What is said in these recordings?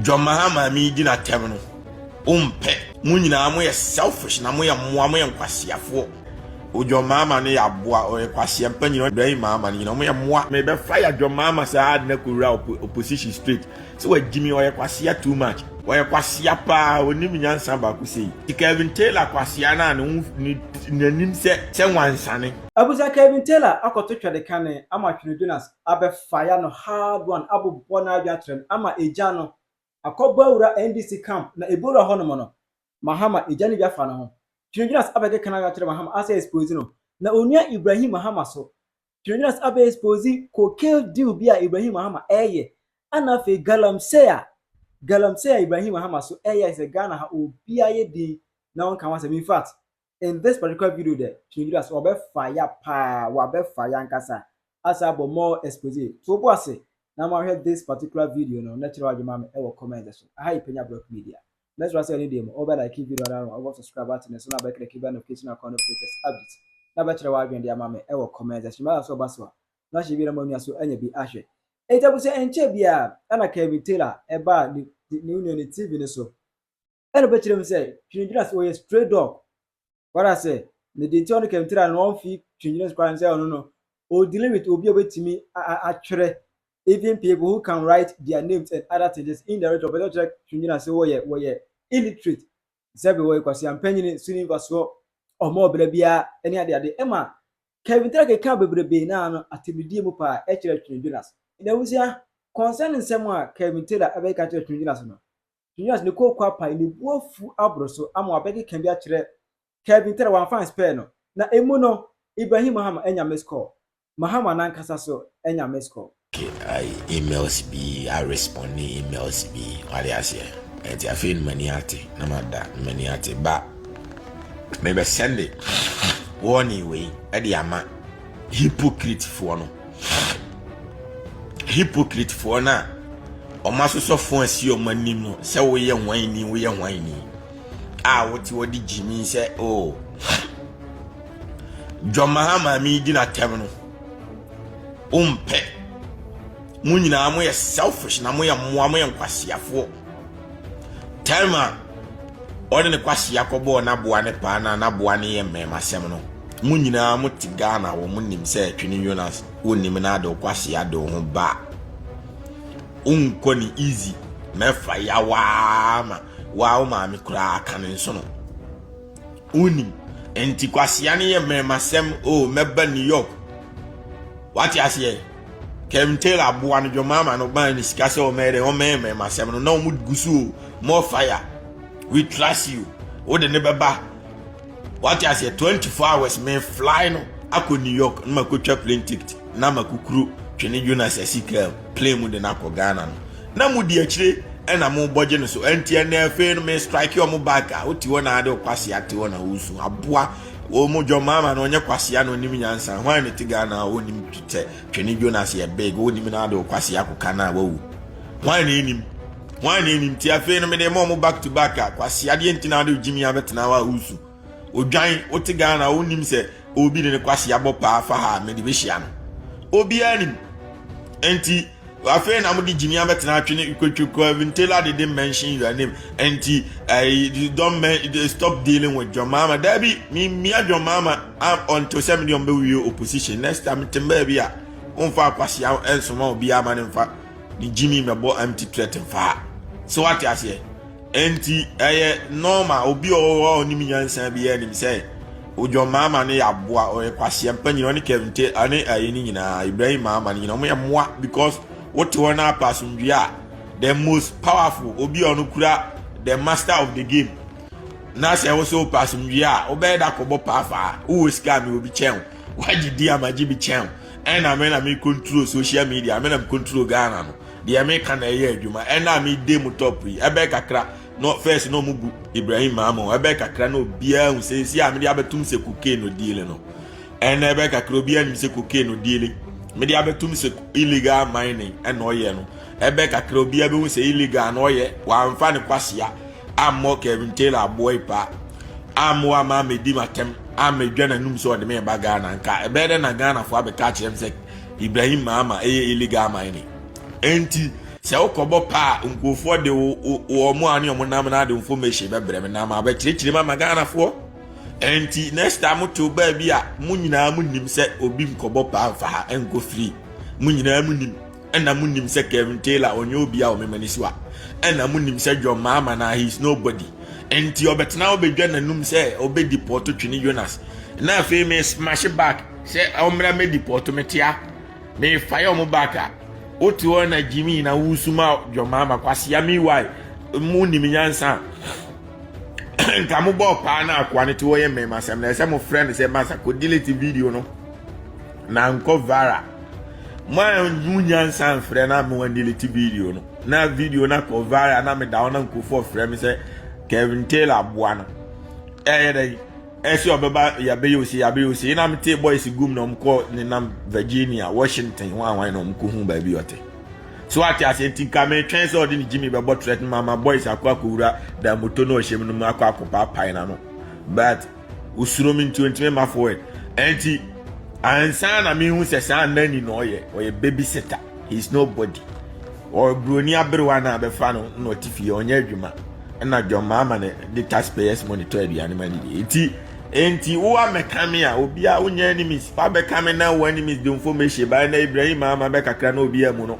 John Mahama me di na tɛm no wo mpɛ. Mo nyinaa mo yɛ selfish na mo yɛ mmoa mo yɛ nkwaseafoɔ. O John Mahama no yɛ aboa ɔyɛ kwaseɛ mpa nyina Ibrahim Mahama no nyina ɔmo yɛ mmoa. Me bɛ fire John Mahama saa ade na kɔ wura opposition straight sɛ wa gyimi ɔyɛ kwasea too much ɔyɛ kwasea paa onim nyansa baako sei nti Kelvin Taylor kwasea no a ne ho ne nanim sɛ sɛ wansane. Abusa Kelvin Taylor akɔto twɛdekane ama Twene Jonas abɛfaya no hard one abobɔ n'adwene akyerɛ no ama egya no akɔbɔ awura NDC camp na ebowura hɔ nom no Mahama egya no bi afa no ho Twinodwinas abɛkeka n'adwene akyerɛ Mahama asɛ expose no na onua Ibrahim Mahama so Twinodwinas abɛ expose cocaine deal bi a Ibrahim Mahama ɛɛyɛ ɛna afei galamsey a galamsey a Ibrahim Mahama so ɛɛyɛ ayɛ sɛ Ghana ha obiara yɛ din na ɔnka ho asɛm infact in this particular video dɛ twɛngyira so ɔbɛ faya paa wabɛ faya ankasa asa abɔ more expose to obo ase na mo ahwɛ this particular video no na kyerɛ wadwe ma me ɛwɔ comment so aha yɛ panya brɔk media mɛsra sɛ ɛne deɛ mu ɔbɛ like video no ano ɔbɔ subscribe button no so na bɛ click bɛ notification akɔn no latest update na bɛ kyerɛ wadwen de ama me ɛwɔ comment section mɛla so ɔba so a na hyɛ bi na mo anua so anya bi ahwɛ ɛnti abusua ɛnkyɛ biara ɛna Kevin Taylor ɛbaa ne ne nua ne TV no so Ɛna ɔbɛkyerɛ mu sɛ twengyina so ɔyɛ stray dog wara sɛ ne deɛ nti ɔno kɛntira no ɔmfi twengyina so koraa sɛ ɔno no ɔdili with obi a ɔbɛtumi atwerɛ even people who can write their names and other things just indirectly ɔpɛ sɛ ɔkyerɛ twengyina so wɔyɛ wɔyɛ illiterate sɛ bi wɔyɛ kwasea mpanyini so ne mfasoɔ ɔmo ɔbra biara ɛne ade ade ɛma Kevin Tara keka bebrebe naa no atɛmdidie mu paa ɛkyerɛ twengyina so. N'abusua, concerning nsɛm a Kevin Taylor ɛbɛka kyerɛ twengyina so no, Kenya's ne kooko apae ne bo afuw aboro so ama wabɛkeka bi akyerɛ Kelvin Tera wamfa anspare no na emu no Ibrahim Mahama anya missed call. Mahama nankasa so anya missed call. emails bi a responde emails bi wade aseɛ ɛnti afei no m'ani ate na mada m'ani ate ba mebɛsɛnde warning wei ɛde ama Hipokritfoɔ no, hipokritfoɔ no a wɔn asosɔfoɔ asi wɔn anim no sɛ woyɛ hwan ni woyɛ hwan ni a wote wɔde gyimi sɛ o oh, John Mahama mi di n'atɛm no wompɛ mo nyinaa moyɛ selfish na moyɛ mmoa moyɛ nkwaseafoɔ Time a ɔde ne kwasi akɔbɔɔ n'aboa ne paa na n'aboa ne yɛ mmɛmasɛm no, mo nyinaa mo te Ghana wɔ mo nim sɛ Twene Jonas wonim na ade kwasi ade ho ba. Wonkɔ ne easy na ɛfa yawaa ma waa wo maame koraa ka ne nso no. Wonim nti kwasia ne yɛ mmɛmasɛm o oh, mɛba New York. Wate aseɛ? Kevin Taylor boa no dwomama no ban ne sika sɛ ɔmɛyɛ dɛ ɔmɛmɛ ma asɛm no na ɔmo gu so o more fire we trust you wode ne bɛba wate aseɛ 24 hours me fly no akɔ New York na makɔtwa plane ticket na makukuru twene Jonas asi kaa plane mu de no akɔ Ghana no na mo di akyire ɛna mo bɔgye no so ɛnti ɛnɛ afei no me strike ɔmo back a wote hɔ na ade ɔkwase ate hɔ na wosu aboa Wɔ mu John Mahama no ɔnyɛ kwasea na onim nyansa hwan na ɛte Ghana a ɔnim sɛ Twene Jonas yɛ big ɔnim no ade wɔ kwasea koka no a wawu hwan na ɛnim hwan na ɛnim ti afei no mede ma ɔmo back to back a kwasea deɛ nti na ade gyimi abɛtena hɔ a wosu odwan wote Ghana a ɔnim sɛ obi de ne kwasea bɔ paa fa ha a mede bɛhyia no obiara nim nti Afei na mode gyimi abɛtena atwene kwetwekwa vintela de de mention your name nti uh, don't men, stop dealing with John Mahama dabi mimia John Mahama ah, until sɛ mede ɔmbɛwie opposition next time tem baabi a womfa akwasia nsoma obiara ma ne mfa ne gyimi mɛbɔ empty threat mfa sɛ wate aseɛ Enti ɛyɛ normal obi a ɔwɔ hɔ a ɔnim nyansa biara nim sɛ Odwon Mahama no yɛ aboa, ɔyɛ kwasia mpa nyina, ɔne Kevin Te, ane ayi no nyinaa, Ibrahim Mahama no nyina, ɔmo yɛ mmoa because wote hɔ na apa asomdwie a, the most powerful, obi a ɔno kura the master of the game, na sɛ wo so wopɛ asomdwie a, wobɛyɛ da kɔbɔ paafaa, wowɔ sika a mewɔ bi kyɛn wo, wagye di a magye bi kyɛn wo, ɛna me na me control social media, me na me control Ghana no. Deɛ meka na ɛyɛ adwuma ɛna a mede mu top yi ɛbɛyɛ kakra no first na ɔmo bu Ibrahim maama o ɛbɛyɛ kakra na obiara hu sɛ esi a mede abɛtum sɛ cocaine no dealing no ɛna ɛbɛyɛ kakra obiara nim sɛ cocaine no dealing mede abɛtum sɛ illegal mining ɛna ɔyɛ no ɛbɛyɛ kakra obiara bɛhu sɛ illegal na ɔyɛ wamfa ne kwasia ammɔ Kevin Taylor aboa yi paa ammoa ama amedi m'atɛm ammedwa n'anum sɛ ɔde me ba Ghana nka ɛbɛyɛ dɛ na Ghanafoɔ abɛka akyerɛ m sɛ Ibrahim Mahama ɛyɛ illegal mining enti sɛ wokɔbɔ paa nkurɔfoɔ de wɔn a ne wɔn nam no ade information bɛbrɛ me na ma abɛkyerɛkyerɛ mu ama Ghanafoɔ enti next time motew baabi a mo nyinaa mo nim sɛ obi nkɔbɔ paa mfa ha ɛnkɔ free mo nyinaa mo nim ɛna mo nim sɛ Kevin Taylor ɔnyɛ obi a ɔmema ne so a ɛna mo nim sɛ John Mahama na he is nobody enti ɔbɛtena ɔbɛdwa n'anum sɛ ɔbɛdi pɔtɔ twene Jonas na afei me smash back sɛ ɔmmra mɛ depɔto me tea me fa yɛ ɔmo back a wote hɔ na gyimi nyina wosuma dwɔmaa ma kwasia me wae mo nim nyansa nka mo bɔ paa na akoa no te hɔ yɛ mmɛma asɛm na ɛsɛ mo frɛ no sɛ masa kɔ delete video no na nkɔ vara mo anhu nyansa mfrɛ na mo delete video no na video no akɔ vara na meda hɔ na nkurɔfoɔ frɛ me sɛ Kevin Taylor aboa no ɛyɛ dɛ ɛsɛ ɔbɛba yɛabɛyɛ ose yɛabɛyɛ ose ɛna metee boys gum na ɔmkɔ ne nam virginia washington ho ahwan na ɔmkɔhu baabi ɔte so ate aseɛ nti nka metwɛn sɛ ɔde ne gyimi bɛbɔ trɛt no mama boys akɔ akɔwura da moto no ɔhyɛm no mu akɔ akɔpaapae no ano but osuro me nti ɔntumi ma forward ɛnti ansa na mehu sɛ saa nani na ɔyɛ ɔyɛ baby sitter he is nobody Ɔyɛ broni aberewa na bɛfa no na ɔte fie ɔnyɛ adwuma ɛna John Mahama na de taxpayers money tɔ aduane ma ne die nti nti wo amɛka me a obia wonyɛ enemies fa bɛka me na wo enemies de information ba na Ibrahim Mahama bɛkakra na obia mu no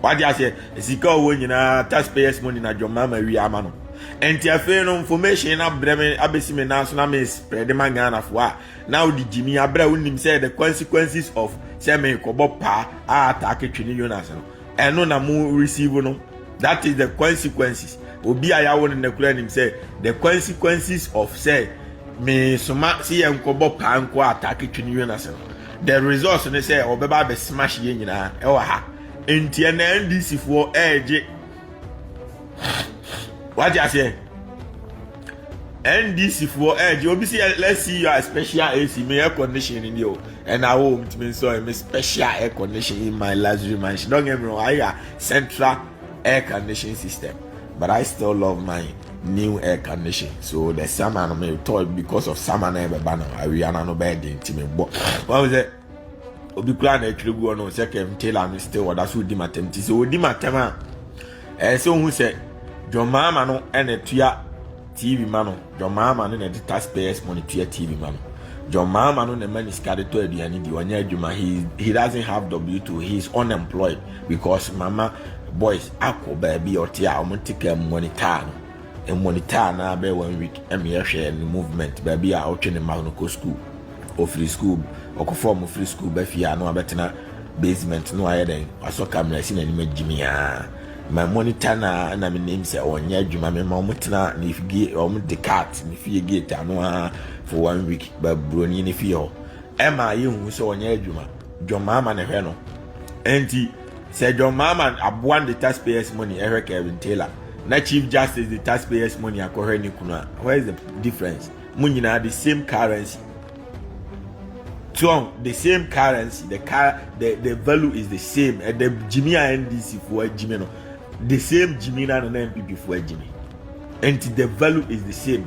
wade aseɛ sika ɔwɔ nyinaa taxpayers money na John Mahama wie ama no nti afei no information na brɛ me abɛsi me nan so na me spread ma Ghanafoɔ a Na odi gyimi abere a onim sɛ the consequences of sɛ meekɔbɔ paa a ataake twe ne Jonas no, ɛno na mo receive no. That is the consequences. Obi a yawo no na kura nim sɛ the consequences of sɛ meesoma sɛ yɛnkɔbɔ paa nko a ataake twe ne Jonas no. The results ne sɛ ɔbɛba abɛ smash yɛn nyinaa ɛwɔ ha. Nti ɛnɛ NDC foɔ ɛɛgye wagye aseɛ ndc foɔ ɛgye obi si let's see your special ac me air condition ni deɛ o ɛna awo omi tumi nsɛ ɔyɛ me special air condition in my luxury mansion don't get me wrong ayɛ central air condition system but i still love my new air condition so the summer no me tɔ because of summer na ɛbɛba no awia na no bɛyɛ den ti me bɔ wɔn sɛ. obi koraa na atwere gu ɔno sɛ kɛm tailor no still ɔda so di matam ti sɛ ɔdi matam a ɛyɛ sɛ ohu sɛ John Mahama no ɛna tua TV ma no John Mahama no na ɛde taxpayers money tua TV ma no John Mahama no na ɛma ne sika de tɔ aduane di ɔnyɛ adwuma he he doesn't have W2 he is unemployed because mama boys akɔ baabi ɔte a wɔn te kaa mu wɔn taa no Mmɔnitaa na bɛyɛ one week ɛna yɛhwɛ ne movement baabi a ɔtwe ne mma no kɔ school ɔfiri school ɔkɔfa ɔmo firi school bɛ fie a na wabɛtena basement na wayɛ dɛn wasɔ camera si n'anim agyimi a ma monitor na ɛna me nim sɛ ɔnyɛ adwuma me ma ɔmo tena ne fie ɔmo de cat ne fie gate ano a for one week ba buroni ne fie hɔ ɛma yɛhu sɛ ɔnyɛ adwuma dwɔmaa ma ne hwɛ no ɛnti sɛ john mahama aboa no de taxpayers money ɛhwɛ kevin taylor na chief justice de taxpayers money akɔhwɛ ne kunu a where is the difference mo nyinaa the same currency tuon the same currency the car the the value is the same ɛdɛ gyimi a ndc foɔ agyimi no the same gyimi na na npp foɔ agyimi nti the value is the same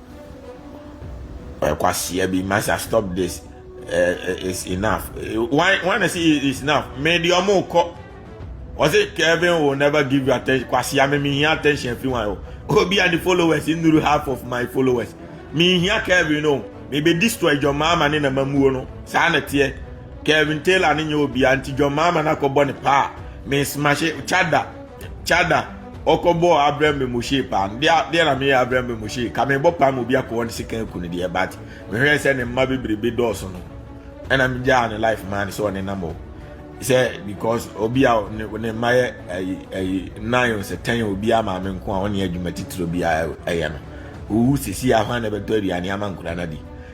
ɔyɛ kwasia bi masa stop this eh, eh, it's enough eh, why why na say it's enough me di ɔmo kɔ ɔsi kevin will never give you attention kwasia mi mi hia attention fi wan o obi a ni followers nnuru half of my followers mi hia kevin o mi bɛ destroy john maama ne na ma muo no saa na teɛ kevin taylor ne nyɛ obi a nti john maama na kɔ bɔ ne paa mi smash chada. Chada, ɔkɔbɔɔ abrɛ me mohyee paa no deɛ deɛ na meyɛ abrɛ me mohyee ka mebɔ paa mu bi akɔwɔ ne sika aku no deɛ but mehwɛɛ sɛ ne mma bebrebe dɔɔso no ɛna megyaa ne life maa ne sɛ ɔne nam o sɛ because obi a ne mma yɛ ɛyi ɛyi nine sɛ ten obi a maame nko a ɔne adwuma titiri obi a ɛyɛ no owu sisi ahwa na ɛbɛtɔ aduane ama nkura na di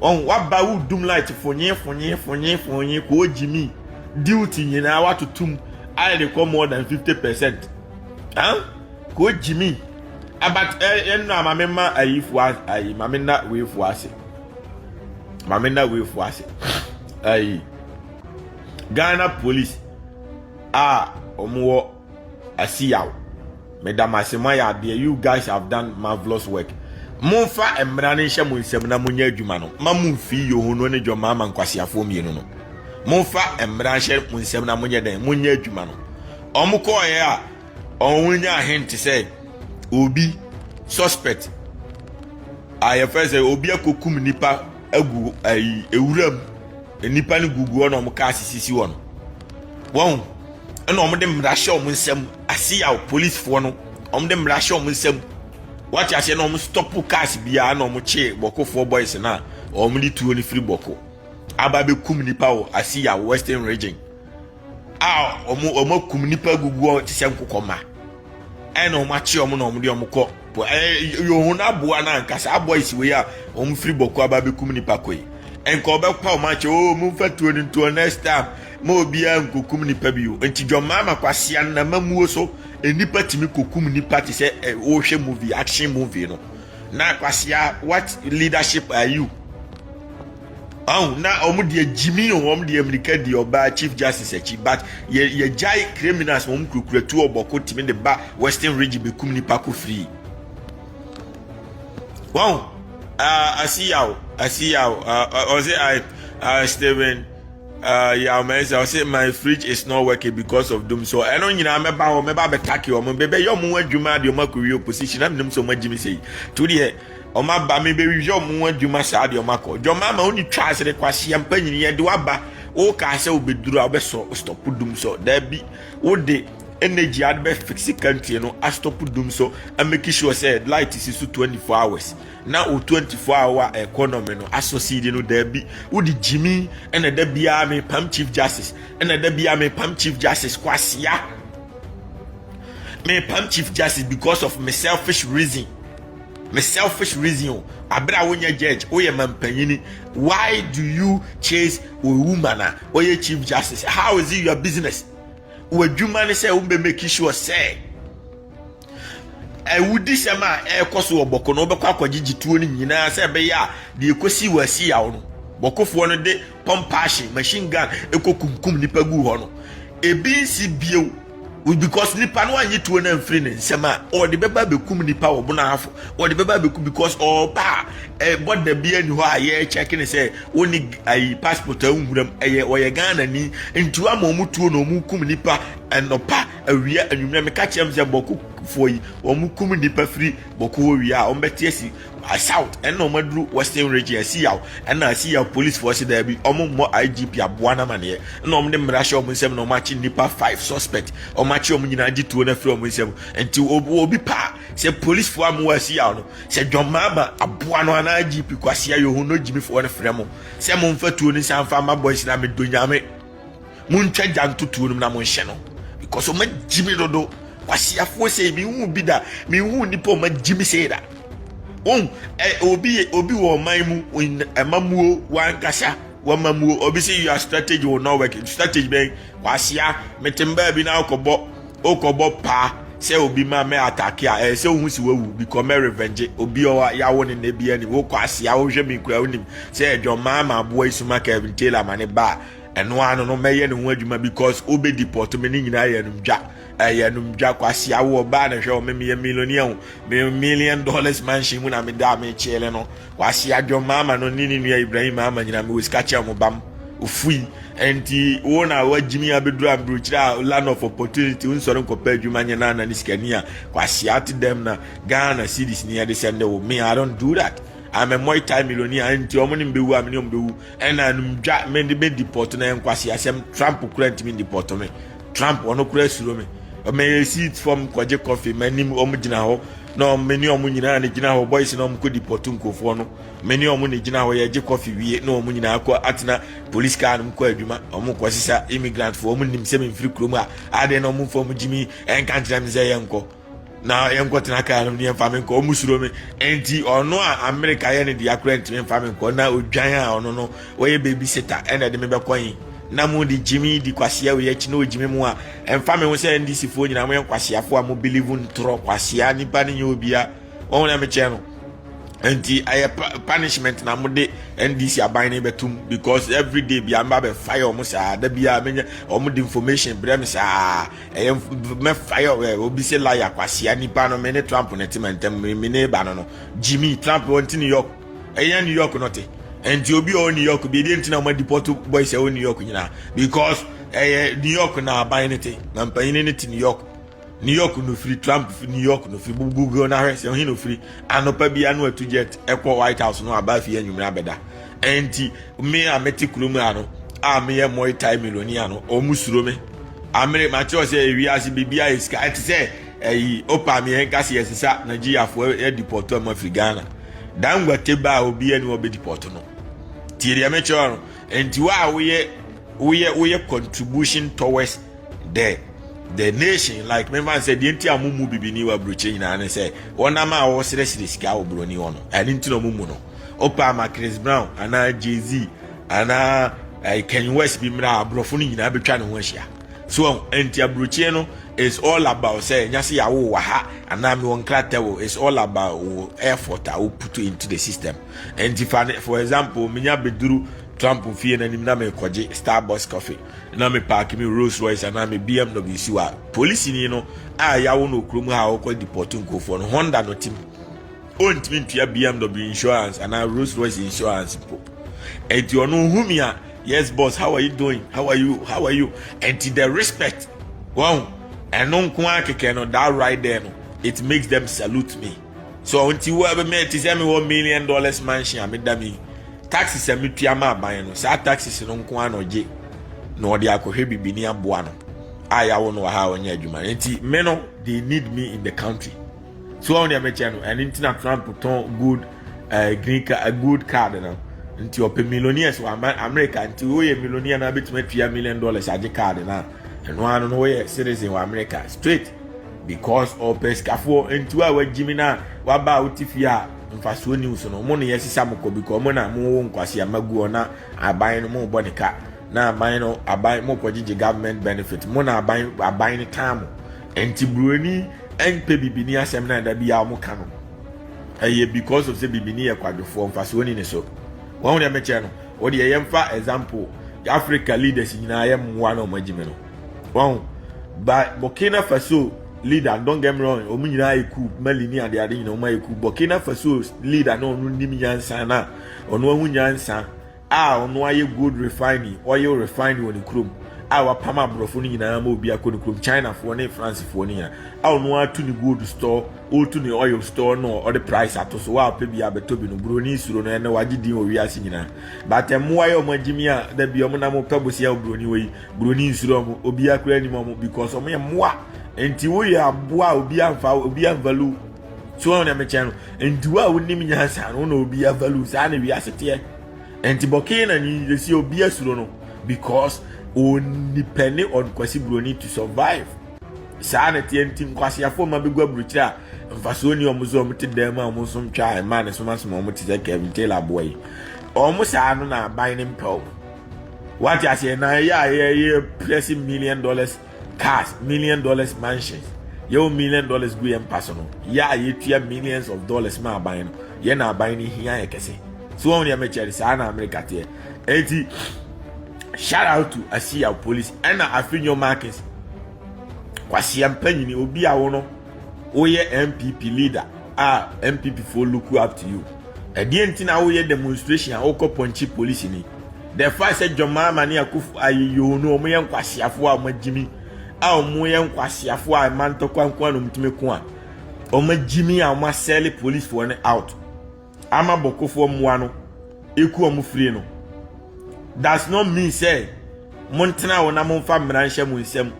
Ɔn waba wo dum light fonye fonye fonye fonye koo gyimi duty nyinaa watotom ayɛ de kɔ more than 50 percent Ɔn koo gyimi abat ɛ eh, ɛnna ma me ma ayifo ayi ma me na weefo ase ma me na weefo ase ayi Ghana police a wɔn wɔ Asi yaw. Meda mo ase, moayɛ adeɛ. You guys have done marvelous work. Momfa mmara no nhyɛ mo nsam na monyɛ adwuma no. Ma mo mfii Yoho no ne John Mahama nkwaseafoɔ mmienu no. Momfa mmara nhyɛ mo nsam na monyɛ dɛn? Monyɛ adwuma no. Wɔn kɔɔeɛ a, wɔn nya ahente sɛ obi suspect a yɛfɛ sɛ obi akɔkum nipa agu ɛyi ewuram. Nnipa no gugu hɔ na wɔn cars sisi hɔ no, wɔn ɛna wɔn de mmara hyɛ wɔn nsam aseyaw polisifoɔ no wɔn de mmara hyɛ wɔn nsam wɔate aseɛ na wɔn stop cars biara na wɔn kye bɔkofoɔ boys no a wɔn de tuo no firi bɔko aba bɛkum nipa wɔ aseyaw western region. a wɔn wɔn akum nnipa agugu hɔ te sɛ nkokɔmma ɛna wɔn akye wɔn na wɔn de wɔn kɔ po ɛɛ yohun aboa no ankasa aboa esiwe yi a wɔn firi bɔkɔ aba abɛkum nnipa kɔ yi nka ɔbɛpa wɔn akyɛ o oh, mo nfa tuo no ntuo next time ma obiara nkokum nnipa bi o nti dwɔmaa ma kwasia no na ma muo so nnipa tumi kokum nnipa te sɛ ɛɛ wɔhwɛ movie action movie no na kwasia what leadership are you. ɔn na wɔn deɛ gyimi o wɔn deɛ mirika di ɔbaa chief justice akyi but yɛ yɛgyae criminals wɔn kurakura tuo ɔbɔko tìmi de ba western region bekum nipa ko free wɔn uh, asiyaw asiyaw ɔsɛ uh, i uh, steven uh, yaw mɛnsa ɔsɛ my fridge is not working because of doom so ɛno nyinaa mɛba hɔ mɛba abɛtake wɔn bɛbɛyɛ wɔn adwuma de wɔn akɔwie opposition na menim sɛ wɔn agyimi sɛ yi to deɛ Wɔn aba me bɛ hwehwɛ wɔn ho adwuma saa deɛ wɔn akɔ. Jɔma ma oni twa asere kwa si ampa nyini yɛ de waba. O ka sɛ o bɛ duru a o bɛ sɔ stop dum sɔ. Dabi o de energy a de bɛ fix country no a stop dum sɔ a make sure sɛ light si so 24 hours na o 24 hour economy no asɔ seed no dabi o de jimi ɛna da biara me pam chief justice ɛna da biara me pam chief justice kwasia me pam chief justice because of me selfish reason. Me selfish reason o. Abere a wonya judge, woyɛ mampanyini. Why do you chase a woman a ɔyɛ chief justice? How is it your business? W'adwuma ne sɛ wobɛ make sure sɛ ɛwudi sɛm a ɛrekɔ so wɔ bɔko no wobɛkɔ akɔgyegye tuo no nyinaa sɛ ɛbɛyɛ a deɛ ɛkɔsi wɔ asi yaw no bɔkofoɔ no de pɔmpaahye machine gun ɛkɔ kumkum nipa gu hɔ no ebi nsi bio because nipa no anyi tuo no amfiri ne nsɛm a ɔde bɛba bɛkum nipa wɔ bonafo ɔde bɛba bɛkum because ɔba a eh, bɔda bi ani hɔ a yɛkyɛke ne sɛ wɔne ayi passport a nwuram ɛyɛ ɔyɛ ghana ni nti wama ɔmo tuo na ɔmo kum nipa ɛnɔpa awia anwummerɛ meka kyerɛm sɛ bɔkofoɔ yi ɔmo kum nipa firi bɔko hɔ wie a ɔmo bɛte asi I south ɛna ɔmo aduru western region ɛsi yaw ɛna ɛsi yaw police fo ɔsi daabi ɔmo mmɔ IGP aboa no amaneɛ ɛna ɔmo de mmara hyɛ ɔmo nsam na ɔmo akye nnipa five suspect ɔmo akye ɔmo nyinaa gye tuo no afiri ɔmo nsam nti obi obi paa sɛ police fo amu ɛsi yaw no sɛ John Mahama aboa no anaa IGP Kwasi Ayohu no gyimi fo no frɛ mo sɛ mo nfa tuo no nsa nfa ma boys na me do nyame Montwa gya nto tuo no mu na monhyɛ no because ɔma gyi me dodo kwasiafoɔ sei menhu bi da menhu nnipa ɔma gyi me sei da wɔn ɛ obi obi wɔ ɔman mu ɛmamuo wankasa wamamuo obi sɛ yua strategy wɔ norway strategy bɛn kwasia metem baabi na akɔbɔ Wokɔbɔ paa sɛ obi ma mɛ atake a ɛyɛ sɛ wohu si wawu bikɔ mɛ revenge obi ɔwa yawo ne nna bi anim wokɔ asia wohwɛ me kura wonim sɛ ɛdwɔn maa ma aboa isuma Kevin Taylor ma ne ba ɛno ano no mɛyɛ ne ho adwuma because wobɛ deport me ne nyinaa yɛ anum dwa ɛyɛ anum dwa kɔ asia wo ɔbaa na hwɛ wɔ me meyɛ millionaire ho me million dollars mansion mu na meda a mekyele no Kwasi adwo maama no ne ne nua Ibrahim maama nyina mewɔ sika kyɛ ɔmo bam ofui nti wo na wagyimi abɛduru amburukyiri a land of opportunity wonsɔre nkɔpɛ adwuma nyɛ nana ne sikani a kwasi ate dɛm na Ghana cities ni ɛde sɛnde wo me I don't do that I'm a Muay Thai millionaire nti ɔmo ne mbɛwu a me ne ɔmo bɛwu ɛna anum dwa me de me deport na ɛnkwasi asɛm Trump kura ntumi deport me Trump ɔno koraa suro me mɛyɛ seat fam kɔgye kɔfe m'anim wɔn gyina hɔ na wɔn mene wɔn nyinaa ne gyina hɔ boys na wɔn kɔ deport nkurɔfoɔ no mene wɔn ne gyina hɔ yɛgye kɔfe wie na wɔn nyinaa kɔ atena police car no mu kɔ adwuma wɔn kɔ sisa immigrant foɔ wɔn nim sɛ memfiri kurom a adeɛ na wɔn mfa wɔn gyimi ɛnka nkyerɛ me sɛ yɛnkɔ na yɛnkɔ tena kaa no ne yɛmfa me nkɔ ɔmu suro me nti ɔno a amerika yɛ ne deɛ akora ntumi mfa me nkɔ na odwan a ɔno no wɔyɛ baby sita ɛna ɛde me bɛkɔ yi na mo de gyimi di kwasea wei akyi na ɔgyimi mu a ɛmfa me ho sɛ ndc foɔ nyinaa moyɛ nkwaseafoɔ a mo believe ntorɔ kwasea nipa ne nyɛ obia ɔho na mekyɛ no nti ɛyɛ punishment na mode ndc aban no bɛtom because every day bia mba bɛfa yɛ ɔmo saa da biaa menya ɔmo de information brɛ me saa Ɛyɛ mɛ fire ɛ obi se laya kwasia nipa no me ne Trump ne te mantam me ne ba no no Jimmy Trump on ti New York ɛyɛ New York no te nti obi ɔ New York bi ɛdeɛ nti na ɔma deport boys ɛwɔ New York nyinaa because ɛyɛ New York na aban ne te na mpanyini ne te New York New York no firi Trump fi New York no firi Google na hwɛ sɛ ɔhe no firi anopa bi ano atu jet ɛkɔ White House no aba afie anwummerɛ abɛda Enti me a mete kurom ha no a meyɛ Muay Thai millionaire no, wɔn suro me. Amere makyerɛ sɛ wiase biribiara yɛ sika. Ɛte sɛ ɛyi opa mi yɛn kasi yɛ sisa Nigeriafoɔ yɛ dipɔtɔ mu afiri Ghana. Dangote ba a obiara ni wɔbɛ dipɔtɔ no. Tie deɛ mekyerɛ no. Enti wo a woyɛ woyɛ woyɛ contribution towards the the nation like me man sɛ deɛ nti a mo mu bibini wɔ aburokyerɛ nyinaa ne sɛ wɔnam a wɔsrɛsrɛ sika wɔ buroni hɔ no ɛne nti na ɔmo mu no Wopɛ ama Chris Brown anaa Jay-Z anaa eh, Kanye West bi mmra aborɔfo no nyinaa bɛtwa ne ho ahyia. So wɔn nti aburokyeɛ no is all about sɛ ɛnya se yɛawo wɔ ha anaa mewɔ nkrata wɔ is all about wo effort a wo put into the system. Nti fa ne for example menya bɛduru Trump fie no anim na mekɔgye Starbucks coffee na me park me Rolls Royce anaa me BMW si wa polisi ni no a yawo no okurom ha a wɔkɔ deport nkurɔfoɔ no Honda no tim ɔntumi ntua bmw insurance anaa rolls royce insurance mpo ɛnti ɔno hu me a yes boss how are you doing how are you how are you ɛnti the respect wɔn ɛno nko ara kɛkɛ no that right there no it makes them salute me so nti wo ɛbɛ mɛ ti sɛ mi wɔ million dollars mansion a mi da mi taxes a mi tua ma aban no saa taxes no nko ara na ɔgye na ɔde akɔhwɛ bibini aboa no a yɛawo no wɔ ha a ɔnyɛ adwuma nti me no they need me in the country. so wɔn deɛ mɛkyɛ no ɛne ntina trump tɔn gold ɛɛ eh, green card eh, gold card no nti ɔpɛ millionaires wɔ america nti woyɛ millionaire na abɛtumi atua million dollars agye card na ɛno ano no woyɛ citizen wɔ america straight because ɔpɛ sikafoɔ nti wo a wagyimi no a waba a wote fie a mfasoɔ news no mo ne yɛ sisa mo kɔ because mo na mo wo nkwasi ama gu hɔ na aban no mo bɔ ne ka na aban no aban mo kɔ gyegye government benefit mo na aban aban no tan mo Nti broni npɛ bibini asɛm na da biaa ɔmo ka no ɛyɛ because of sɛ bibini yɛ kwadwofoɔ mfasoɔ ni ne so wahu deɛ mekyɛ no wodeɛ yɛmfa example Africa leaders nyinaa yɛ mmoa na ɔmo agyimi no wahu ba Burkina Faso leader don't get me wrong ɔmo nyinaa yɛ cool Mali ne ade ade nyinaa ɔmo ayɛ cool Burkina Faso leader na ɔno nim nyansa na ɔno ahu nyansa a ɔno ayɛ gold refining, oil refining wɔ ne kurom a wapam aborɔfo no nyinaa ma obi akɔ ne kurom chinafoɔ ne francefoɔ no nyinaa a ɔno ato ne gold store ɔreto ne oil store no ɔde price ato so wa ɔpɛ bi abɛtɔ bi no buroni suro no ɛnɛ wagye din wɔ wiase nyinaa but mmoa yɛ ɔmo agyimi a da bi ɔmo nam pɛ bosia wɔ buroni wɔ yi buroni nsuro ɔmo obi akora anim ɔmo because ɔmo yɛ mmoa nti woyɛ aboa a obi amfa obi amvalu so wɔn na mekyɛn no nti wo a wonim nyansa no na obi avalu saa na wiase teɛ nti bɔkee na nyingyesi obi asuro no because onipa ne ɔkwasi buroni to survive saa na teɛ nti nkwaseafoɔ ma bɛgu aburukyerɛ a mfasoɔ ni ɔmo so ɔmo te dan mu a ɔmo nsom twa a mmaa ne som asom ɔmo te sɛ kevin taylor aboa yi ɔmo saa no na aban ne mpɛ ɔmo wate aseɛ na ɛyɛ a yɛyɛ prɛse million dollars cars, million dollars mansions. Yɛwɔ million dollars gu yɛn mpa so no, yɛ a yɛtua millions of dollars ma aban no, yɛn na aban no hia yɛ kɛse. So wɔn deɛ mekyɛre saa na Amerika teɛ. Eti shout out to Asiya police ɛna afi nyɔ markings. Kwasiɛ mpanyini obi a wo no. Woyɛ NPP leader a NPP foɔ look up to you. Ɛdeɛ nti na woyɛ demonstration a wokɔ pɔnkye polisi ni? The fact sɛ John Mahama ne Akufo ayi yoo no wɔn yɛ nkwaseafoɔ a wɔn agyimi a wɔn yɛ nkwaseafoɔ a mma ntɔkwa nko a na wɔn tumi ko a wɔn agyimi a wɔn asɛle police foɔ no out. ama bɔkɔfoɔ mmoa no ɛku wɔn firi no does not mean sɛ montena hɔ na momfa mmara nhyɛ mo nsam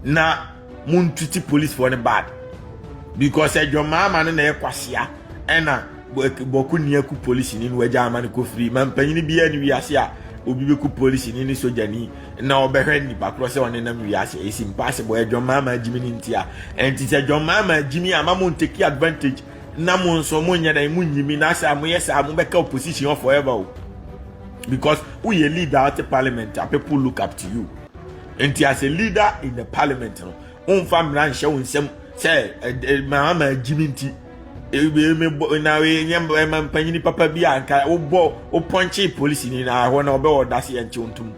na montiti policefoɔ no bad because adwamaa ma no na ɛyɛ kwasea ɛna bɔko ni aku polisi ni no agya ama no kɔfiri ma mpanyini biara ne wiase a obi bɛku polisi ni ne sogyani na ɔbɛhwɛ nnipa korɔ sɛ ɔne nam wiase ɛsi mpaase bɔ adwamaa ma agyimi no nti a ɛnti sɛ adwamaa ma agyimi ama montaki advantage na mo nso mo nyɛ dɛn mo nyi mi na sɛ mo yɛ saa mo bɛka opposition hɔ forever o because wo yɛ leader out of parliament a people look up to you nti as a leader in the parliament no wo nfa mmira nhyɛ wo nsam sɛ maa ma gyi mi nti ebi mi bɔ na nyɛ ɛma mpanyini papa bi a nka wo bɔ wo pɔnkye polisi ni na ɛhɔ na ɔbɛ ɔda se yɛn kyew ntum.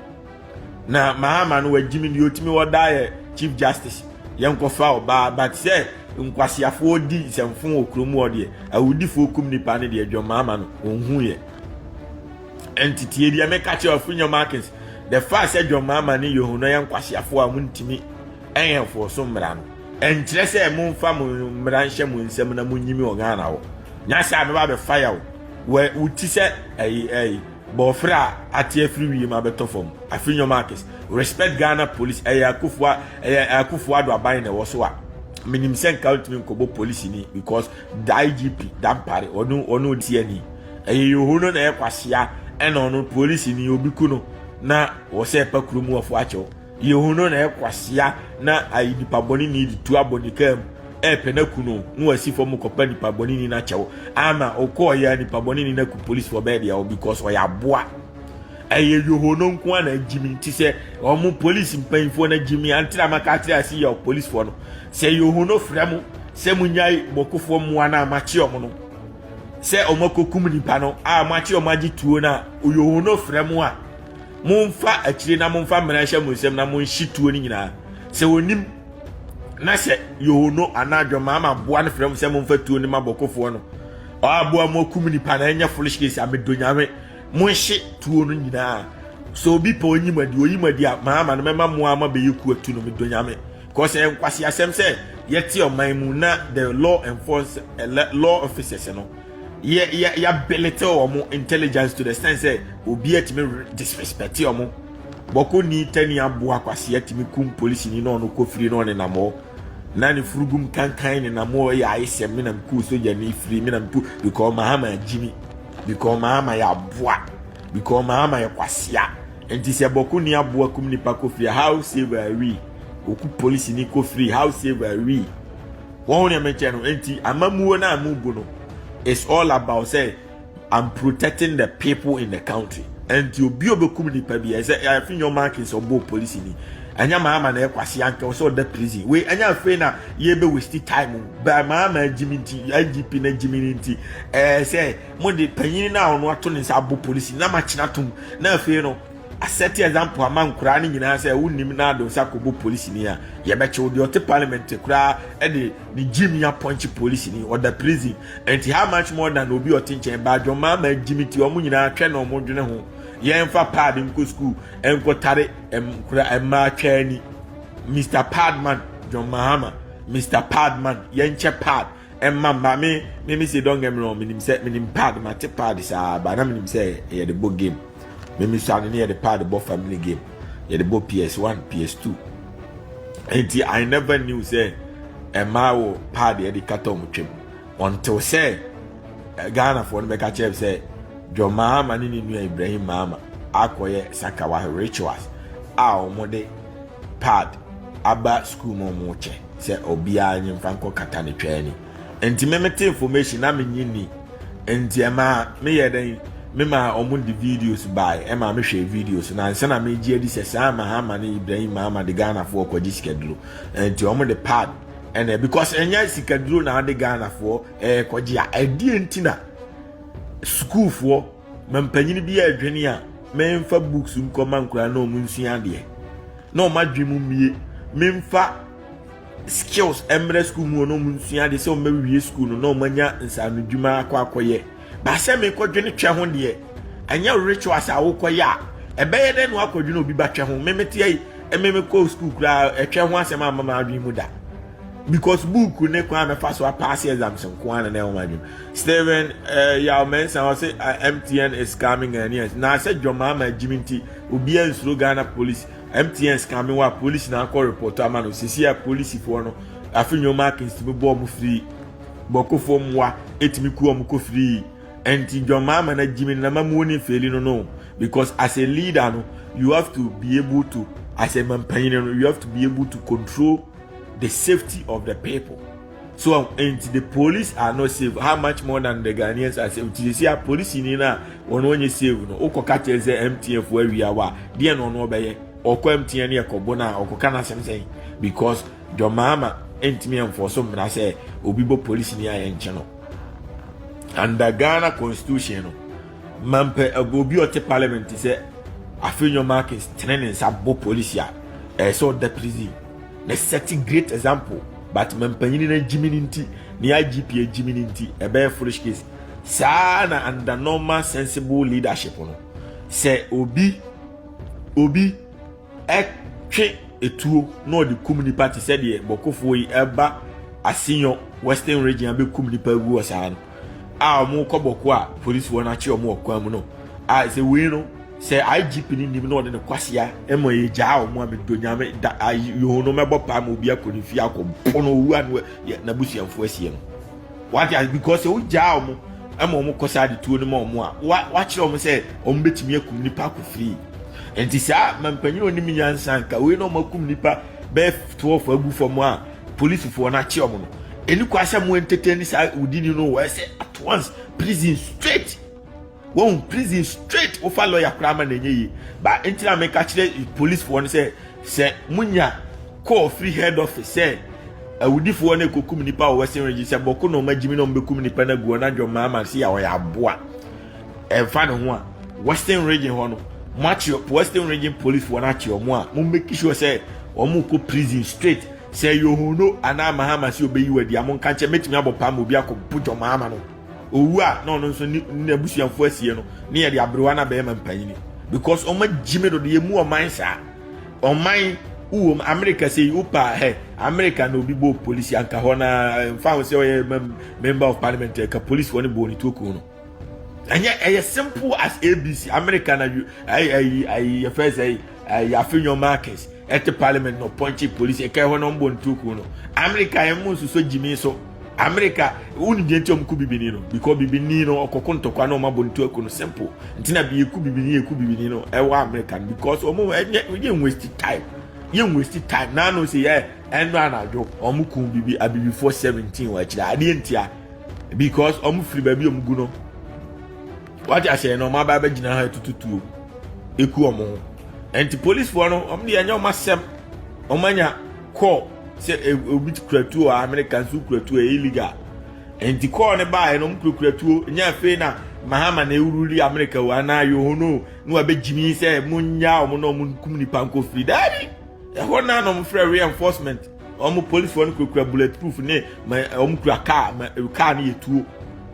na mahama no wagye me deɛ ɔtumi wɔ daa yɛ chief justice yɛnkɔfa ɔbaa but sɛ nkwaseafoɔ di nsɛmfo wɔ kurom hɔ deɛ awudifoɔ kum nipa no deɛ dwom mahama no ɔnhu yɛ ɛnteteɛ bi a meka kyerɛ afunya markins the fact sɛ dwom mahama ne yehu no yɛ nkwaseafoɔ a montumi ɛyɛ mfoɔ so mmara no ɛnkyerɛ sɛ momfa mo mmara nhyɛ mo nsɛm na monyimi wɔ ghana hɔ nyɛ sɛ a mɛba bɛfa yɛ wo wo ti sɛ ɛyi ɛyi Bɔɔfrɛ a ate afiri wiem abɛtɔ fam afiri Nyomakis respect Ghana police ɛyɛ akufua ɛyɛ akufuado aban na ɛwɔ so a menim sɛ nka ntumi nkɔbɔ police ni because the IGP Dampare ɔno ɔno ɔdi ani ɛyɛ yoho no na ɛyɛ kwasia ɛna ɔno police ni obi ku no na wɔ sɛ ɛpa kurom wɔfo akyɛw Yehu no na ɛyɛ kwasea na ayi nipa bɔne ni de tu abɔ ne kaa mu ɛɛpɛ no aku no na wasi fam kɔpa nipa bɔne ni no akyɛw ama ɔkɔɔ yɛ nipa bɔne ni no aku polisi wɔ bɛɛ deɛ because ɔyɛ aboa ɛyɛ yoho no nko a na agyimi nti sɛ wɔn polisi mpanyinfoɔ no agyimi antra maka akyerɛ ase yɛ polisifoɔ no sɛ yoho no frɛ mo sɛ mo nyae bɔkofoɔ mmoa no a makye wɔn no sɛ wɔn akɔkum nipa no a makye wɔn agye tuo no a yoho no frɛ mo a Momfa akyire na momfa mmena nhyɛ mo nsam na monhye tuo no nyinaa. Sɛ wɔnim na sɛ yohono anaa dwama ama aboa no frɛ mo sɛ momfa tuo no ma bɔkofoɔ no aboa mo akum nipa na ɛnyɛ foolish case a medo nyame monhye tuo no nyinaa sɛ obi pɛ ɔnyi mu adi ɔyi mu adi a maama no mɛma mo ama bɛyɛ ku atu no medo nyame kɔsɛ ɛnkwase asɛm sɛ yɛte ɔman mu na the law enforce eh, law officers no yɛ yɛ yɛabilite wɔn intelligence to the extent sɛ obi atumi disrespect wɔn bɔkɔ ni tani aboa akwasi atumi kum polisi ni na ɔno kofiri na ɔne nam hɔ na ne furugum kankan ne nam hɔ yɛ ayesɛm me nam ku sogya ni firi me nam ku because mahama agyimi because mahama yɛ aboa because mahama yɛ kwasia nti sɛ bɔkɔ ni aboa kum nipa kofiri how save are we oku polisi ni kofiri how save are we. Wahu nea mekyɛ no? Enti amammuo no a mobu no is all about sɛ I'm protecting the people in the country. Enti obi a ɔbɛkum nipa bi ɛsɛ afi nyɛ ɔma ake sɛ ɔbɔɔ polisi ni. Ɛnyɛ maa ama na ɛkwasi anka ɔsɛ ɔda prison. Wei ɛnyɛ afei na yɛbɛ waste time o. Baa maa ama agyimi nti IGP na agyimi no nti ɛɛ sɛ mo de panyin no a ɔno ato ne nsa abɔ polisi na makyena tom na afei no asɛte example ama nkoraa no nyinaa sɛ wonnim na ado nsa kɔbɔ polisini a yɛbɛkyew deɛ ɔte parliament koraa ɛde ne gyim ya pɔnkye polisini ɔda prison ɛnti how much more than obi ɔte nkyɛn baa dwɔmaa ma gyimi ti ɔmo nyinaa twɛ na ɔmo dwene ho yɛmfa pad nkɔ school ɛnkɔtare nkora ɛmmaa twaa ni mr padman john mahama mr padman yɛnkyɛ pad ɛmma mma me me me se don't get me wrong menim sɛ menim pad mate pad saa ba na menim sɛ ɛyɛ de bɔ game me me sua no ne yɛde pad bɔ family game yɛde bɔ ps1 ps2 nti i never knew sɛ ɛmaa wɔ pad yɛde kata ɔmo twam ɔntew sɛ eh, ghanafoɔ no bɛka kyerɛ sɛ dwɔ maama ne ne nua ibrahim maama akɔyɛ sakawa rituals a ɔmo de pad aba sukuu mu ɔmo kyɛ sɛ obiara nye mfa nkɔ kata ne twɛɛ ni. Nti me mete information na menye ni. Nti ɛma meyɛ dɛn mema wɔn de videos bae ɛma mehwɛ videos na nsa na megye adi sɛ saa Mahama ne Ibrahim Mahama de Ghanafoɔ kɔgye sikaduro. Nti wɔn de pad ɛna because ɛnyɛ sikaduro na ade Ghanafoɔ ɛrekɔgye a ɛdeɛ nti na sukuufoɔ mampanyini bi ɛredwene a memfa books nkɔma nkura na wɔn nsua adeɛ na wɔn adwene mu mmie memfa skills mmra sukuu mu na wɔnsua ade sɛ wɔbɛwie sukuu no na wɔanya nsaanodwuma akɔ akɔyɛ baasɛ mekɔdwene twɛ ho deɛ ɛnyɛ rituals a wokɔyɛ a ɛbɛyɛ dɛ na wakɔdwene obi ba twɛ ho memeteɛ yi memekɔ sukuu koraa ɛtwɛ ho asɛm a mama adwene mu da because book ne kwan mɛfa so apaase exams nko ara na na ɛwɔ adwene steven eh, yaw mɛnsa ɔse ah, mtn is coming and yes na sɛ dwɔmaa ma agyimi nti obiara nsuro ghana police MTN sika mi wa polisi na akɔ report ama no sisi a polisifoɔ no afi nneɛma akensi mi bɔ ɔmo firi bɔkofoɔ mu wa etimi ku ɔmo kɔ firi ɛnti dwɔn maa ma na gyi mi na ma mu ni feli no no because as a leader no you have to be able to as a mampanyin no you have to be able to control the safety of the people. so um, nti the police are not safe how much more than the ghanaians are safe ti sisi a police ni na wɔn wɔnyɛ safe no wokɔ ka kyerɛ sɛ mtn fo awia wa deɛ na ɔno ɔbɛyɛ ɔkɔ mtn ne ɛkɔbo no a ɔkɔka no asɛm sɛn because dɔmaama ntumi ɛmfɔ so mmara sɛ obi bɔ police ni a yɛnkyɛ no under ghana constitution no Mampɛ obi a ɔte parliament te sɛ Afenyo Markins tene ne nsa bɔ police a ɛyɛ sɛ ɔda prison na set great example but mampanyini no agyimi no nti ne IGP agyimi no nti ɛbɛyɛ foolish case saa na under normal sensible leadership no sɛ obi obi twe etuo na ɔde kum nnipa te sɛ deɛ bɔkofoɔ yi ɛba asenyɔ western region abɛkum nnipa agu wɔ saa no a wɔkɔ bɔko a polisifoɔ no akye wɔn wɔ kwan mu no a sɛ wei no sɛ igp no nim na ɔde ne kwasea ɛma yɛgyaa wɔn a medɔ nyame da ayi yɛhu no mɛbɔ paa ma obi akɔ ne fie akɔ pono owu a n'abusuafoɔ asie no Wate ase? Because sɛ wogyaa wɔn ma wɔn kɔ saa adetuo no ma wɔn a, wa wakyerɛ wɔn sɛ wɔn bɛtumi akum nipa akɔ free. Nti saa mampanyin onim nyansa nka wei na wɔn akum nipa bɛyɛ twelve agu fam a polisifoɔ no akye wɔn no. Ɛni kwa sɛ mo entertain saa wudini no wɔ ɛsɛ at once prison straight. Wahu prison straight wofa lawyer koraa ma no ɛnyɛ yie ba nti na meka kyerɛ policefoɔ no sɛ sɛ monya call firi head office sɛ awudifoɔ no ɛkɔkum nipa wɔ western region sɛ bɔko na ɔma gyimi na ɔmbɛkum nipa no agu ɔna dwɔ maa ma se a ɔyɛ aboa ɛmfa ne ho a western region hɔ no moakye western region policefoɔ no akye ɔmo a mo make sure sɛ ɔmo kɔ prison straight sɛ yohono anaa mahama sɛ ɔbɛyi wadi a mo nka nkyɛ mɛtumi abɔ paa ma obi akɔ bɔdwɔ maa ma no owu a na ɔno nso ne n'abusuafo asie no ne yɛde aberewa na bɛrima mpanyin because ɔma gyimi do de yɛmu ɔman saa ɔman wowom amerika sɛ wopa hɛ amerika na obi bɔɔ polisi anka hɔ na mfa ho sɛ ɔyɛ member of parliament ɛka polisifoɔ ne bɔɔ ne tuo kun no ɛnyɛ ɛyɛ simple as abc amerika na yɛfɛ sɛ yɛafe nyɔ markets ɛte parliament na ɔpɔnkye polisi ɛka hɔ na ɔmbɔ ne tuo kun no amerika yɛn mu nso so gyimi so America woni deɛ nti ɔmo ku bibini no because bibini no ɔkɔko ntɔkwa na ɔmo abɔ ntu aku no simple nti na bi eku bibini eku bibini no ɛwɔ America no because ɔmo ɛnyɛ yɛ waste time yɛ waste time naanu sɛ yɛ ɛnu anadwo ɔmo kun bibi abibifoɔ seventeen wɔ akyire adeɛ ntia because ɔmo firi baabi ɔmo gu no wate aseɛ na ɔmo aba abɛgyina ha tututuo eku ɔmo ho ɛnti polisifoɔ no ɔmo deɛ ɛnyɛ ɔmo asɛm ɔmo anya. kɔɔ sɛ e, obi kura tuo a amerika nso kura tuo ɛyɛ illegal nti kɔɔ ne baeɛ no ɔmkurakura tuo nyɛ afei na mahama na ɛwuruli amerika o anaa yohono na wabɛgyimi sɛ monyaa ɔmo na ɔmo nkum nipa nkɔ firi daabi ɛhɔ naa na ɔmfrɛ reinforcement ɔmo policefoɔ no kurakura bullet proof ne ɔmo kura kaa kaa no yɛ tuo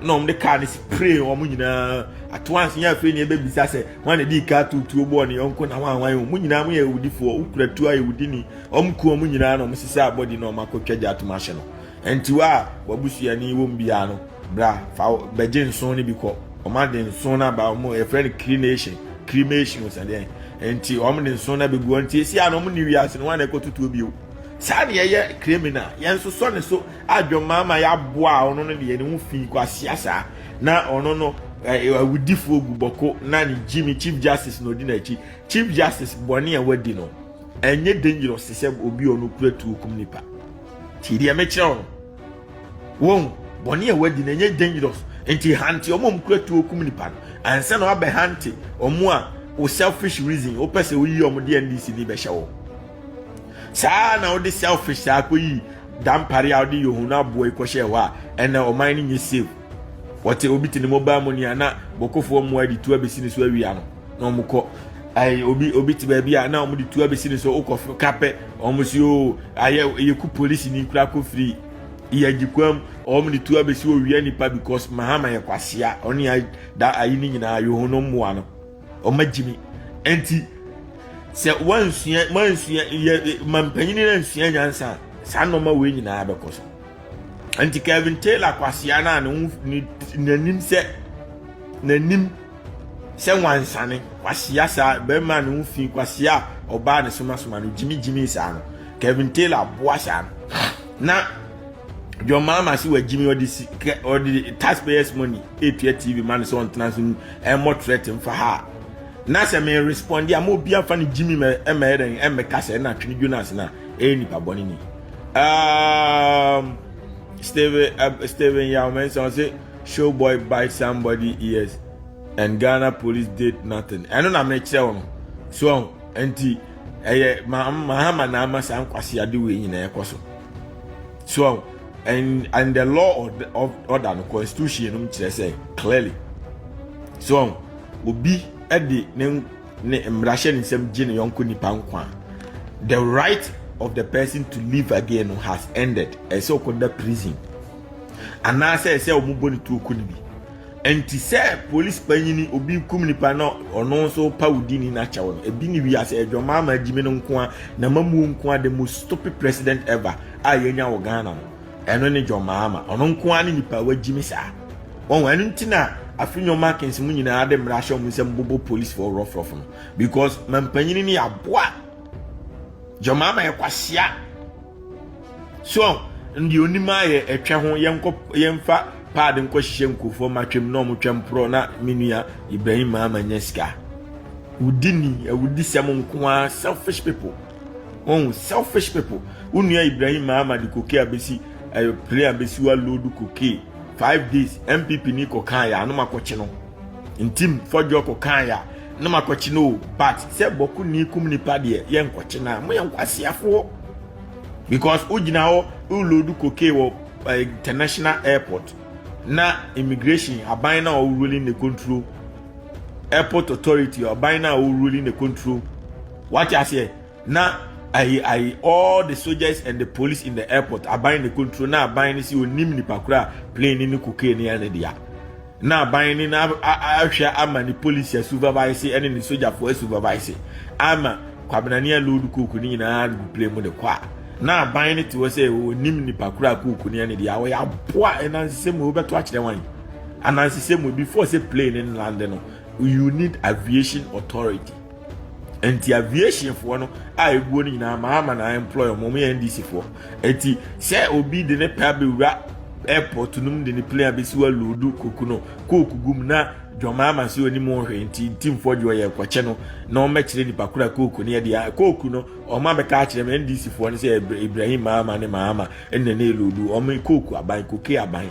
na ɔmo de kaa no spray ɔmo nyinaa atoanso nyɛ afei na ɛbɛbisa sɛ wɔn na ɛde kaa tuo tuo bɔɔ ne yɔnko na wɔn a wɔn a wɔn nyinaa mo yɛ awudifoɔ wokura tuo ayɛ wudini Wɔkumm wɔn nyinaa na wɔsesɛɛ abɔde na wɔakɔtwa gya atom ahye no. Enti wo a w'abusuani wɔ mu biara no, bra, fa bɛgye nsõ no bi kɔ. Wɔde nsõ no aba, wɔn yɛfrɛ no crenation, cremation o, sɛdeɛn. Enti wɔde nsõ no abɛgu hɔ. Enti ɛsi a na wɔnni wiase no, wɔn a na ɛkɔtotoɔ bio. Saa na yɛyɛ kremina, yɛnsosɔ ne so adwemmaa ma yɛaboa a ɔno no deɛ ne ho fi kwasea saa. Na ɔno no awudifoɔ gu bɔko na ne gyimi, chief justice, na ɔdi n'akyi. Chief justice bɔne a wadi no. ɛnyɛ dangerous te sɛ obi a ɔno kura tuo kum nipa tie deɛ mekyerɛ wo no wɔn bɔne a wadi na ɛnyɛ dangerous nti hante ɔmo ɔmo kura tuo kum nipa no ansa na wabɛ hante ɔmo a wo selfish reason wopɛ sɛ woyi ɔmo de ndc ni bɛhyɛ wɔ saa na wode selfish saa kɔyi dampare a wode yɛ ohun aboa yi kɔhyɛ hɔ a ɛnna ɔman no nyɛ safe wɔte obi te ne mobile money a na bɔkɔfoɔ mmoa de tu abɛsi ne so awia no na wɔn kɔ ayi obi obi te baabi a na wɔn de tu abɛsi ne so wokɔ kapɛ wɔn si o ayɛ yɛku polisi ni kura kɔ firi yɛgyikwam wɔn de tu abɛsi owia nipa because mahama yɛ kwasia ɔne ayi da ayi ne nyinaa yɛ wɔn mmoa no wɔn agyimi nti sɛ wɔnsua wɔnsua yɛ mampanyin na nsua nyansa saa nneɛma wei nyinaa bɛkɔ so. nti kevin taylor kwasea no a n'anim sɛ n'anim sɛ nwansane kwasea saa bɛrima a ne ho fi kwasea a ɔbaa ne somasoma no gyimigyimi saa no kevin taylor boa saa no na john mahama se wagyimi ɔde si ɔde taxpayers money etua tv ma no sɛ ɔntena so ɛmmɔ threat mfa ha na sɛ me responde a ma obi afa no gyimi ma ɛmɛyɛ dɛn ɛmmɛka sɛ ɛna twene dwo no ase no a ɛyɛ nipa bɔne ni Um, Stephen uh, Stephen Yao Mensah say showboy bite somebody ears and Ghana police did nothing. Ɛno na mekyerɛ wɔn so ɔn nti ɛyɛ mahama na ama saa nkwasi ade wei nyinaa ɛkɔ so so ɔn and and the law of order no constitution no kyerɛ sɛ clearly so ɔn obi ɛde ne. ne mmara hyɛ ne nsam gye ne yɔnko nipa nkwa the right of the person to live again has ended ɛsɛ ɔkɔda prison anaasɛ ɛsɛ wɔn bɔ ne tuo ko no bi nti sɛ polisi panyini obi kum nipa na ɔno nso pa wodi ni n'akyɛw no ebi ne wiase adwamaa ma agyimi no nkoa na mamuo nkoa the most stupid president ever a yɛnya wɔ ghana no Ɛno ne John Mahama. Ɔno nko ara ne nipa a wagyi me saa. Wɔn ɛno nti na afei nyɔma akensi mu nyinaa de mmara ahyɛ wɔn nsam bobo polisi fo rɔfrɔfo no because mampanyini ne aboa John Mahama yɛ kwasia so ndi onim ayɛ ɛtwɛ ho yɛnkɔ yɛnfa paadi nkɔ hyehyɛ nkurɔfoɔ ma twɛm na wɔn twɛm porɔ na me nua Ibrahim Mahama nya sika wudi ni awudi sɛm nko ara selfish people. Wɔn selfish people. Wo nua Ibrahim Mahama de koke abesi ɛyɛ eh, plane abesi wa load koke five days MPP ni kɔ kan ya anum akɔkye no. Ntim fɔdwo kɔ kan ya anum akɔkye no but sɛ bɔko ni kum nipa deɛ yɛ nkɔkye na mo yɛ nkwasiafoɔ because wo gyina hɔ wo load koke wɔ eh, international airport na immigration aban na ɔwɔ ruling ne control airport authority aban na ɔwɔ ruling ne control Wate aseɛ na ayi ayi all the soldiers and the police in the airport aban ne control na aban ne si onim nipa kura plane ne ne cocaine ne ɛne dea na aban ne na ahwɛ ama ne police supervise ɛne ne sojafoɔ supervise ama kwabenani a load coke ne nyinaa de plane mu de kɔ a na aban ne te hɔ sɛ onim nipa kura coke ne ɛne dea wɔyɛ aboa ɛnansesɛ mu wobɛto akyerɛ wɔn anansesɛ mu before sɛ plane ne lande no you need aviation authority nti aviation foɔ no a ebuo no nyinaa maa ama na employ wɔn wɔn yɛ ndc foɔ nti sɛ obi de ne pɛ abɛwura airport no mu de ne plane abɛsi wa loodu koku no kooku gum na dwɔmaa ma sɛ onim ɔhwɛ nti ntimfoɔ gye ɔyɛ kɔkyɛ no na wɔbɛkyerɛ nipa kora kooku no yɛde a kooku no wɔn abɛka akyerɛ m ndc foɔ no sɛ ibrahim maama ne maama ɛna ne loodu wɔn kooku aban koke aban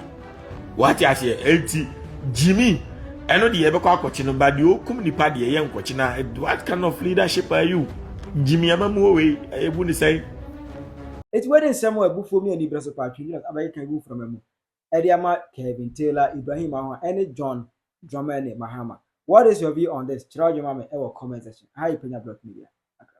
wate aseɛ enti gyimi ɛno deɛ yɛbɛkɔ akɔkye no ba deɛ ɔkum nipa deɛ yɛ nkɔkye na what kind of leadership are you gyimi ama mu owei ɛbu ne sɛn Eti wei de nsɛm a abufuo mi anibere so paa Tribune abɛkeka egu mframa mu ɛde ama Kevin Taylor, Ibrahim Ahoa ɛne John Dramani Mahama. What is your view on this? Kyerɛw adwene ma me ɛwɔ comment section. Aha yɛ Penya Block Media. Accra.